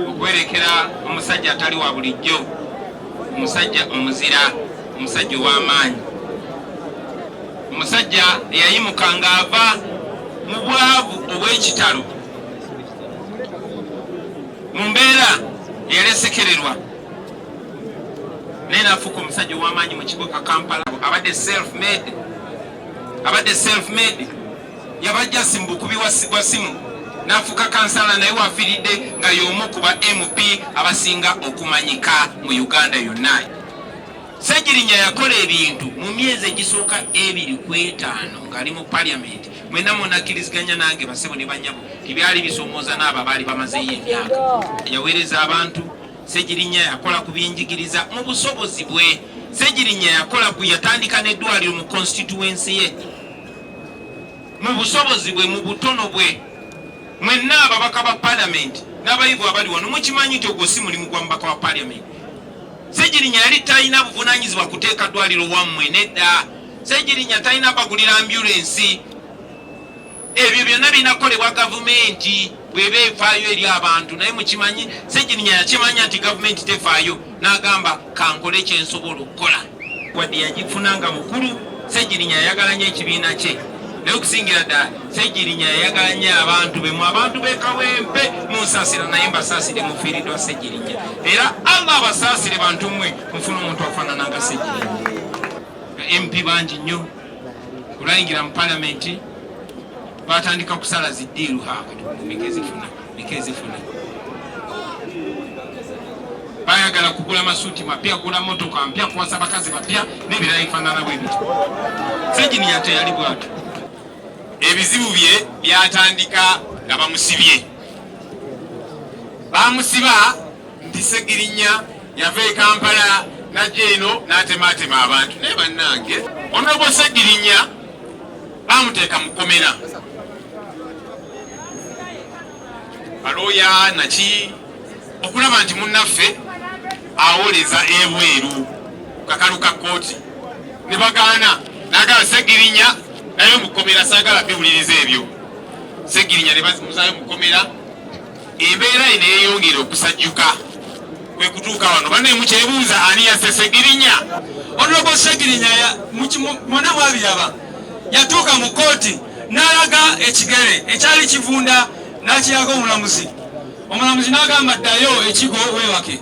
okwerekera omusajja atali wa bulijjo omusajja omuzira omusajja ow'amaanyi omusajja eyayimuka ng'ava mu bwavu obw'ekitalo mu mbeera eyalesekererwa naye nafuuka omusajja ow'amaanyi mu kibuga kampala abadde self made abadde self made yabajja simu bukubi wa simu nafuka kansala naye wafiridde nga y'omu ku ba mp abasinga okumanyika mu uganda yonna ssegirinya yakola ebintu mu myezi egisooka ebiri ku etaano ng'ali mu paliamenti mwena munakkiriziganya nange basebo ne banyabo tibyali bisomooza n'abo abaali bamazeeyo emyaka yaweereza abantu ssegirinya yakola ku byenjigiriza mu busobozi bwe ssegirinya yakola ku yatandika n'eddwaliro mu konsitituwensi ye mu busobozi bwe mu butono bwe mwenna ababaka ba palamenti n'abayivu abali wano mukimanyi nti ogwo si mulimu gwa mubaka wa palamenti segirinya yali talina buvunanyizibwa kuteeka ddwaliro wammwe nedda segirinya talina bagulira ambulensi ebyo byonna birina kukolebwa gavumenti bweba efaayo eri abantu naye mukimanyi segirinya yakimanya nti gavumenti tefaayo n'agamba kankole kyensobola okukola wadde yagifuna nga mukulu segirinya yayagala nyo ekibiina kye naye okusingira ddala segirinya yayagala nyo abantu be mu abantu bekawempe munsasira naye mbasaasire mufiiridwa segirinya era allah abasaasire bantu mwe mufuna omuntu afaanana nga segirinya mp bangi nnyo kulayingira mu palamenti batandika kusala ziddiiru haakati mumigezifuna bayagala kugula masuuti mapya kugula motoka mpya kuwasa bakazi bapya nebirala ebifanana bwebiti seginiya teyali bwatu ebizibu bye byatandika nga bamusibye bamusiba nti segirinya yava e kampala najja eno natematema abantu naye bannange onobosegirinya baamuteeka mu kkomera balooya naki okulaba nti munnaffe awoleza ebweru kakalu ka kkooti ne bagaana nagala segirinya naye mu kkomera saagala biwuliriza ebyo segirinya ne bamuzayo mu kkomera Embeera eno eyongera okusajjuka kwe kutuuka wano banne mukyebuuza ani yasse Ssegirinya. Onobo Ssegirinya mwona mwabiraba, yatuuka mu kkooti n'alaga ekigere ekyali kivunda n'akiraga omulamuzi, omulamuzi n'agamba ddayo ekigo weebake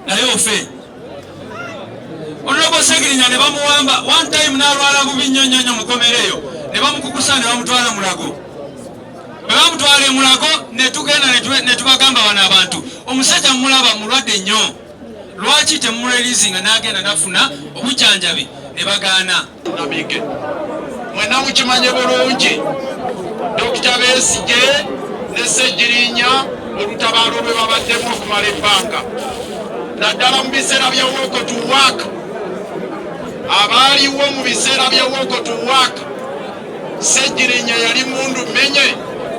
naye ofe. Onobo Ssegirinya ne bamuwamba one time n'alwala bubi nnyo nnyo nnyo mukomereyo ne bamukukusa ne bamutwala Mulago. bwe bamutwala e Mulago ne tugenda ne tubagamba bano abantu omusajja mumulaba mulwadde nnyo lwaki temumulelizinga n'agenda nafuna obujanjabi ne bagaana nabige mwena mukimanye bulungi dokita Besigye ne Ssegirinya olutabaalo lwe babaddemu okumala ebbanga naddala mu biseera bya wokotuwaaka abaaliwo mu biseera bya wokotuwaaka Ssegirinya yali mundu menye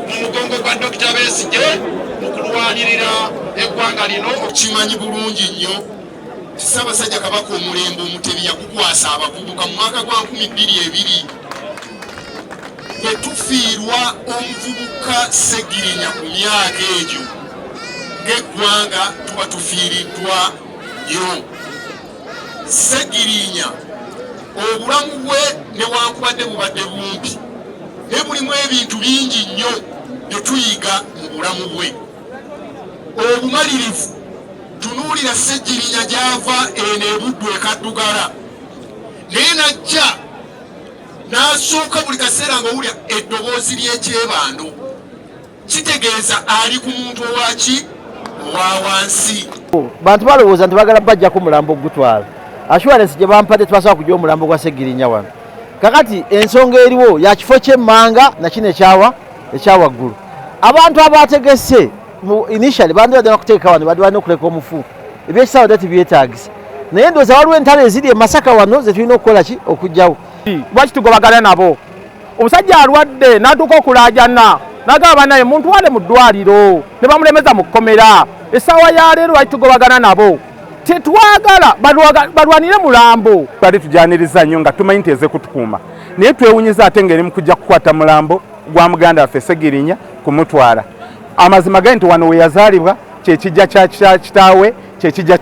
mu mugongo gwa Dokita Besigye mu kulwanirira eggwanga lino. Okimanyi bulungi nnyo Ssaabasajja Kabaka omulembe Omutebi yagukwasa abavubuka mu mwaka gwa nkumi bbiri ebiri bwe tufiirwa omuvubuka Ssegirinya ku myaka egyo ng'eggwanga tuba tufiiriddwa nnyo. Ssegirinya obulamu bwe newankubadde bubadde bumpi naye mulimu ebintu bingi nnyo bye tuyiga mu bulamu bwe obumalirivu tunuulira ssegirinya gy'ava eno ebuddu ekaddugala naye najja n'asooka buli kaseera ng'owulira eddoboozi ly'ekyebando kitegeeza ali ku muntu owaki owa wansi bantu balowooza nti bagala bajjako mulambo ogutwala assurance gye bampadde tebasobola kujja omulambo gwa segirinya wano kakati ensonga eriwo ya kifo kyemmanga nakino ekyawa ekyawaggulu abantu abategese initially bandibadde nakuteeka wano badi balina okuleka omufu ebyekisawa dati byetagisa naye ndooza waliwo entalo eziri emasaka wano zetulina okukola ki okugjawo lwaki tugobagana nabo omusajja alwadde n'atuuka okulaajana nagamba banaye muntwale mu ddwaliro ne bamulemeza mu kkomera essaawa ya leero lwaki tugobagana nabo tetwagala balwanire mulambo twali tujaniriza nnyo nga tumanyi nti ezekutukuuma naye twewunyiza ate ngeri mukujja kukwata mulambo gwa muganda waffe segirinya kumutwala amazima gali nti wano weyazaalibwa kyekijja kya kitaawe kyekija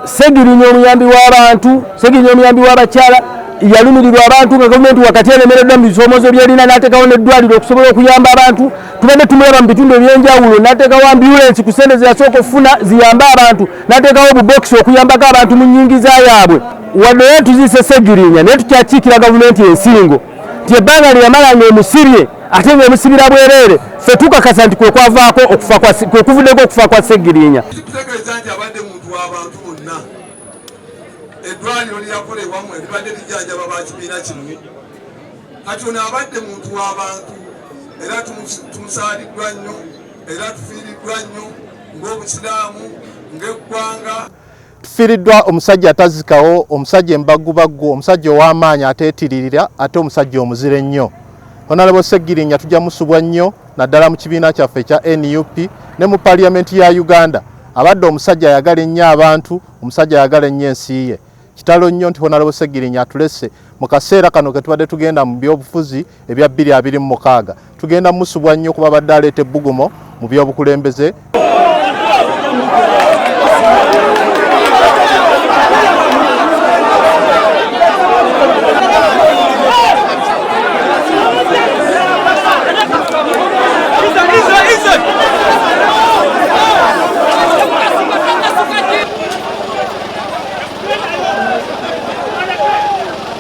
segirinya omuyambi w'abantu segirinya omuyambi w'abakyala yalumirirwa abantu nga gavumenti wakati eremereddwa mu bisoomozo byerina n'ateekawo n'eddwaliro okusobola okuyamba abantu tubadde tumulaba mu bitundu eby'enjawulo n'ateekawo ambulensi ku sente zeyasooka okufuna ziyambe abantu n'ateekawo obubokisi okuyambako abantu mu nnyingiza yaabwe wadde naye tuziise segirinya naye tukyakiikira gavumenti ensingo nti ebbanga lye yamala ng'emusibye ate ng'emusibira bwereere ffe tukakasa nti kwe kwavaako kwe kuvuddeko okufa kwa Ssegiriinya. Kitegeeza nti abadde muntu w'abantu bonna. Eddwaliro lyakolebwamu eribadde lijanjaba ba kibiina kino kati ono abadde muntu w'abantu era tumusaaliddwa nnyo era tufiiriddwa nnyo ng'Obusiraamu ng'eggwanga. Tufiiriddwa omusajja atazikawo, omusajja embaggubaggu, omusajja ow'amaanyi ateetiririra ate omusajja omuzira ennyo. Honalebo Ssegirinya tujja musubwa nnyo naddala mu kibiina kyaffe ekya nup ne mu paliyamenti ya Uganda. Abadde omusajja ayagala ennyo abantu, omusajja ayagala ennyo ensi ye. Kitalo nnyo nti Honalebo Ssegirinya atulese mu kaseera kano ke tubadde tugenda mu byobufuzi ebya bbiri abiri mu mukaaga. Tugenda musubwa nnyo kuba badde aleeta ebbugumo mu by'obukulembeze.